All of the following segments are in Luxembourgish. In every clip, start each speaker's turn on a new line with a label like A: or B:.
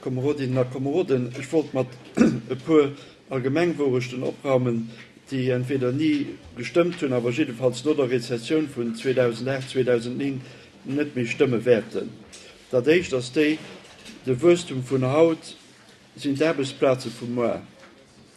A: Komerodinnen a Komeroden, ech wollt mat e puer Allgemengwourechten opraumen, déi entweder ni gestëmmt hunn, awer jiddefalls no der Rezessioun vun 2008, 2009 net méi stëmme wäerten. Dat éischt ass déi, De Wuesstum vun haut sinn d'Aarbechtsplaze vu muer.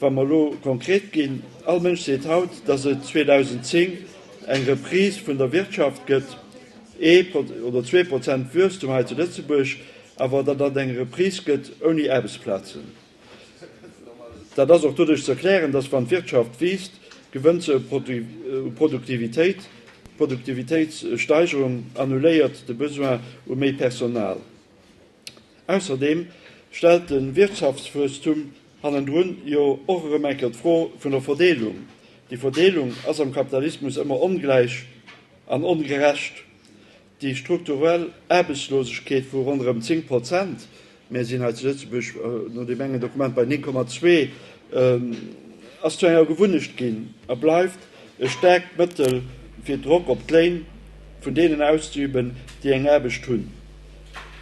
A: Wa mer elo konkret ginn, All Mënsch seet haut, datt et 2010 eng Reprise vun der Wirtschaft gëtt, ee oder zwee Prozent Wuesstum hei zu Lëtzebuerg, awer datt et eng Reprise gëtt ouni Aarbechtsplazen. Dat ass och doduerch ze erklären, datt wann d'Wirtschaft wiisst, gewënnt se u Produktivitéit, d'Produktivitéitssteigerung annuléiert de Besoin u méi Personal. Ausserdeem stellt de Wirtschaftswuesstum hannendrun jo och erëm eng Kéier d'Fro vun der Verdeelung. Déi Verdeelung ass am Kapitalismus ëmmer ongläich an ongerecht. Déi strukturell Aarbechtslosegkeet vu ronderëm 10 Prozent, mir sinn hei zu Lëtzebuerg no deem engen Dokument bei 9,2, ass zu enger Gewunnecht ginn a bleift e staarkt Mëttel fir Drock op d'Léin vun deenen auszeüben, déi eng Aarbecht hunn.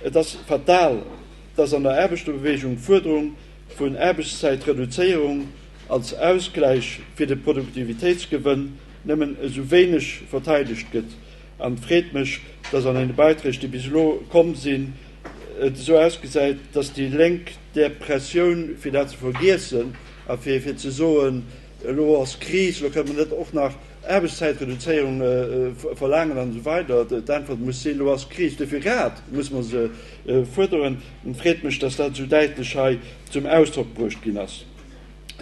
A: Et ass fatal, datt an der Aarbechterbeweegung d'Fuerderung vun Aarbechtszäitreduzéierung als Ausgläich fir de Produktivitéitsgewënn nëmmen esou wéineg verteidegt gëtt. An et freet mech, datt an den Beiträg, déi bis elo komm sinn, et esou ausgesäit, datt déi Lénk där Pressioun, fir dat ze vergiessen a fir ze soen, elo ass Kris, elo kënnen mer net och nach, Aarbechtszäitreduzéierung verlaangen an esou weider D'Äntwert muss sinn, elo ass d'Kris, dofir grad muss mer se fuerderen. Et freet mech, dass dat esou däitlech hei zum Ausdrock bruecht ginn ass.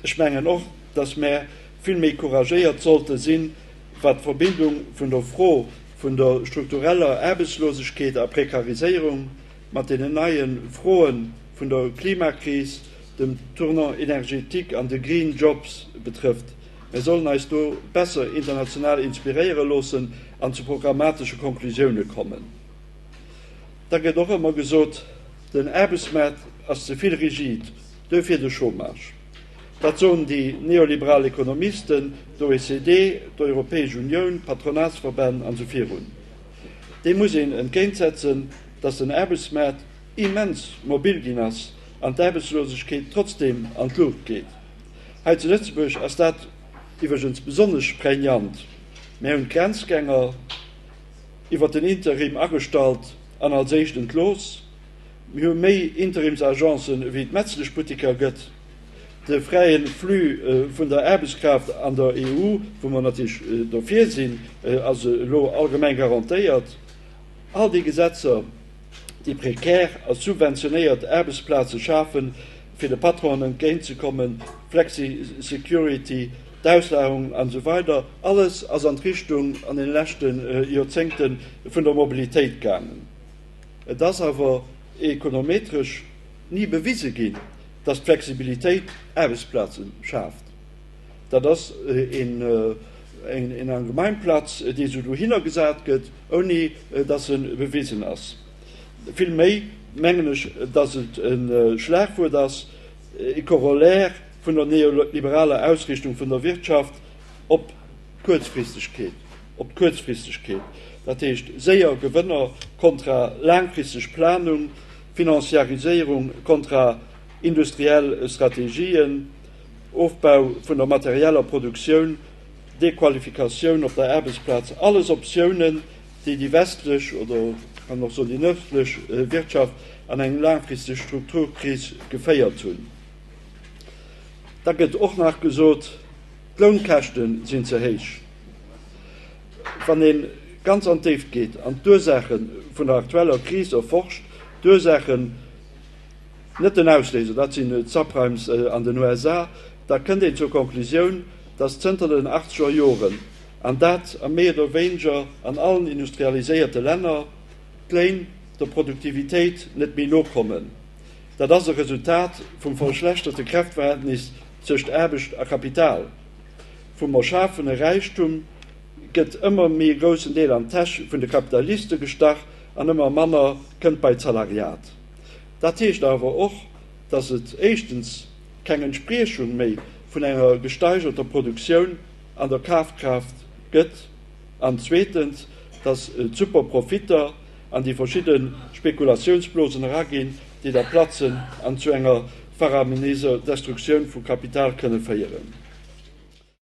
A: Ech mengen och, dass mer vill méi couragéiert sollte sinn, wat d'Verbindung vun der Fro vun der struktureller Aarbechtslosegkeet a Prekariséierung mat deenen neie Froe vun der Klimakris, dem Tournant énergétique an de Green Jobs betrëfft. Mir sollen eis do besser international inspiréiere loossen an zu programmatesche Konklusioune kommen. Da gëtt och ëmmer gesot, den Aarbechtsmaart ass ze vill rigid, duerfir de Chômage. Dat soen déi neoliberal Ekonomisten, d'OECD, d'Europäesch Unioun, d'Patronatsverbänn an sou virun. Deem muss een entgéintsetzen, datt den Aarbechtsmaart immens mobil ginn ass an d'Aarbechtslosegkeet trotzdeem an d'Luucht geet. Hei zu Lëtzebuerg ass dat iwwregens besonnesch prégnant. Mär hunn d'Grenzgänger iwwert den Interim agestallt an als éischt entlooss. Mir hu méi Interimsagencen ewéi et Metzleschbutteker gëtt. De fräie Flux vun der Aarbechtskraaft an der EU, wou mer natierlech dofir sinn, ass elo allgemeng garantéiert. All déi Gesetzer, déi prekär a subventionéiert Aarbechtsplaze schafen, fir de Patronen entgéint ze kommen, Flexisecurity, d'Auslagerung an esou weider Alles ass an d'Richtung an deene leschte Joerzéngte vun der Mobilitéit gaangen. Et ass awer ekonometresch ni bewise ginn, datt d'Flexibilitéit Aarbechtsplaze schaaft. Dat ass een eng Gemeinplatz, déi esou dohinner gesat gëtt, ouni dass se bewisen ass. Vill méi mengen ech, dass et e Schlagwuert ass, e Corollaire vun der neoliberaler Ausrichtung vun der Wirtschaft op d'Kuerzfristegkeet, op d'Kuerzfristegkeet, dat heescht séier Gewënner kontra laangfristeg Planung, Financiariséierung kontra industriell Strategien, Ofbau vun der materieller Produktioun, Dequalifikatioun op der Aarbechtsplaz, alles Optiounen, déi déi westlech oder ech kann och soen déi nërdlech Wirtschaft an eng laangfristeg Strukturkris geféiert hunn. Da gëtt och nach gesot, d'Lounkäschte sinn ze héich. Wann ee ganz an d'Déift geet an d'Ursaache vun der aktueller Kris erforscht, d'Ursaachen, net den Ausléiser, dat sinn d'Subprimes an den USA, da kënnt een zur Conclusioun, datt zënter den achtzeger Joren, an dat a méi oder wéineger an allen industrialiséierte Länner, d'Léin der Produktivitéit net méi nokommen. Dat ass e Resultat vum verschlechterte Kräftverhältnis tëscht Aarbecht a Kapital, vum Erschafene Räichtum gëtt ëmmer méi e groussen Deel an d'Täsch vun de Kapitaliste gestach an ëmmer manner kënnt bei d'Salariat. Dat heescht awer och, datt et éischtens keng Entspriechung méi vun enger gesteigerter Produktioun an der Kafkraaft gëtt an zweetens, datt d'Superprofitter an déi verschidde Spekulatiounsblosen eraginn, déi da platzen an zu enger faramineser Destruktioun vu Kapital kënne féieren.